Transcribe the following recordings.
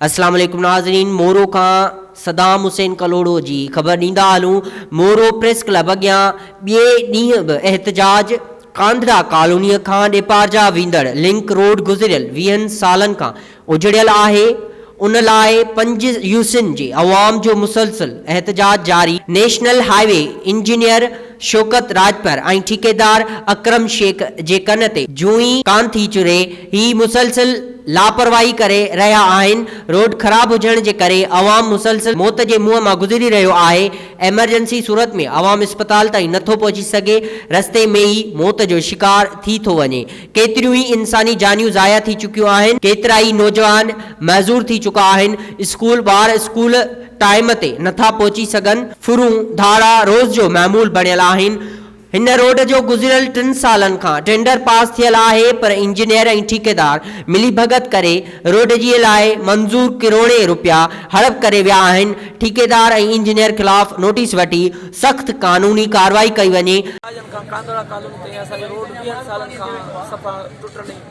اسلام عليڪم ناظرين مورو کان صدام حسين ڪلهوڙو جي خبر ڏيندا هلون مورو پريس ڪلب اڳيان ٻئي ڏينهن به احتجاج ڪانڌڙا ڪالوني کان ڏيپارجا ويندڙ لنڪ روڊ گذريل ويهن سالن کان اجڙيل آهي ان لاء پنج يوسين جي عوام جو مسلسل احتجاج جاري national highway engineer Shaukat Rajpar ۽ ٺيڪيدار اڪرم شيخ جي ڪن تي جون ئي ڪان ٿي چري، هي مسلسل لاپرواهي ڪري رهيا آهن، روڊ خراب هجڻ جي ڪري عوام مسلسل موت جي منهن مان گذري رهيو آهي، ايمرجنسي صورت ۾ عوام اسپتال تائين نه ٿو پهچي سگهي، رستي ۾ ئي موت جو شڪار ٿي ٿو وڃي، ڪيتريون ئي انساني جانيون ضايع ٿي چڪيون آهن، ڪيترائي نوجوان معذور ٿي چڪا آهن، اسڪول ٻار اسڪول ٽائيم تي نه ٿا پهچي سگهن. ڦرون، ڌاڙا، روز جو معمول بڻيل آهن. هن روڊ جو گذريل ٽن سالن کان ٽينڊر پاس ٿيل آهي پر انجنيئر ۽ ٺيڪيدار ملي ڀڳت ڪري روڊ جي لاء منظور ڪروڙين روپيا هڙپ ڪري ويا آهن، ٺيڪيدار ۽ انجنيئر خلاف نوٽيس وٺي سخت قانوني ڪارروائي ڪئي وڃي. سالن کان ڪانڌڙا ڪالوني تائين اسان جو روڊ ويهن سالن کان صفا ٽٽل ۽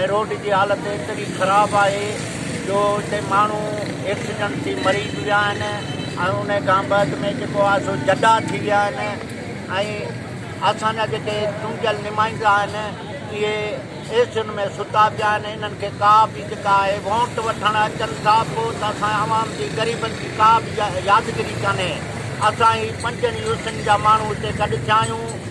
۽ روڊ جي حالت ايتري خراب آهي جو اتي ماڻهو ايڪسيڊنٽ ٿي مري به ويا آهن ۽ ان کان بعد ۾ جيڪو آهي سو جڏا ٿي ويا آهن ۽ اسان جا جيڪي چونڊيل نمائندا آهن اهي اي سين ۾ ستا پيا آهن انهن کي ڪا به جيڪا آهي ووٽ وٺڻ اچن ٿا پوء ته اسان عوام جي غريبن جي ڪا به يادگيري ڪانهي اسان هي پنجن يوسين جا ماڻهو اتي گڏ ٿيا آهيون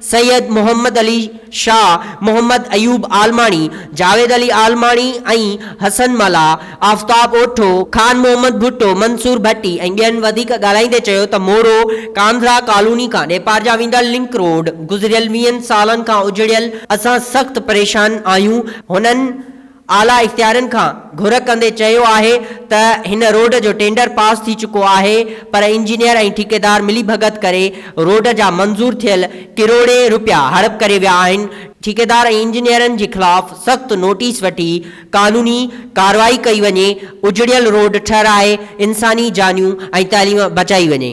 سيد محمد علي شاهه، محمد ايوب عالماڻي، جاويد علي عالماڻي ۽ حسن ملاح، آفتاب اوٺو، خان محمد ڀٽو، منصور ڀٽي ۽ ٻين وڌيڪ ڳالهائيندي چيو ته مورو ڪانڌرا ڪالوني کان ڏيپارجا ويندڙ لنڪ روڊ گذريل ويهن سالن کان اجڙيل، اسان سخت پريشان آهيون، هنن. اعليٰ اختيارين کان گهر ڪندي چيو آهي ته هن روڊ جو ٽينڊر پاس ٿي چڪو آهي پر انجنيئر ۽ ٺيڪيدار ملي ڀڳت ڪري روڊ جا منظور ٿيل ڪروڙين رپيا هڙپ ڪري ويا آهن، ٺيڪيدار ۽ انجنيئرن جي خلاف سخت نوٽيس وٺي قانوني ڪارروائي ڪئي وڃي، اجڙيل روڊ ٺهرائي انساني جانيون ۽ تعليم بچائي وڃي.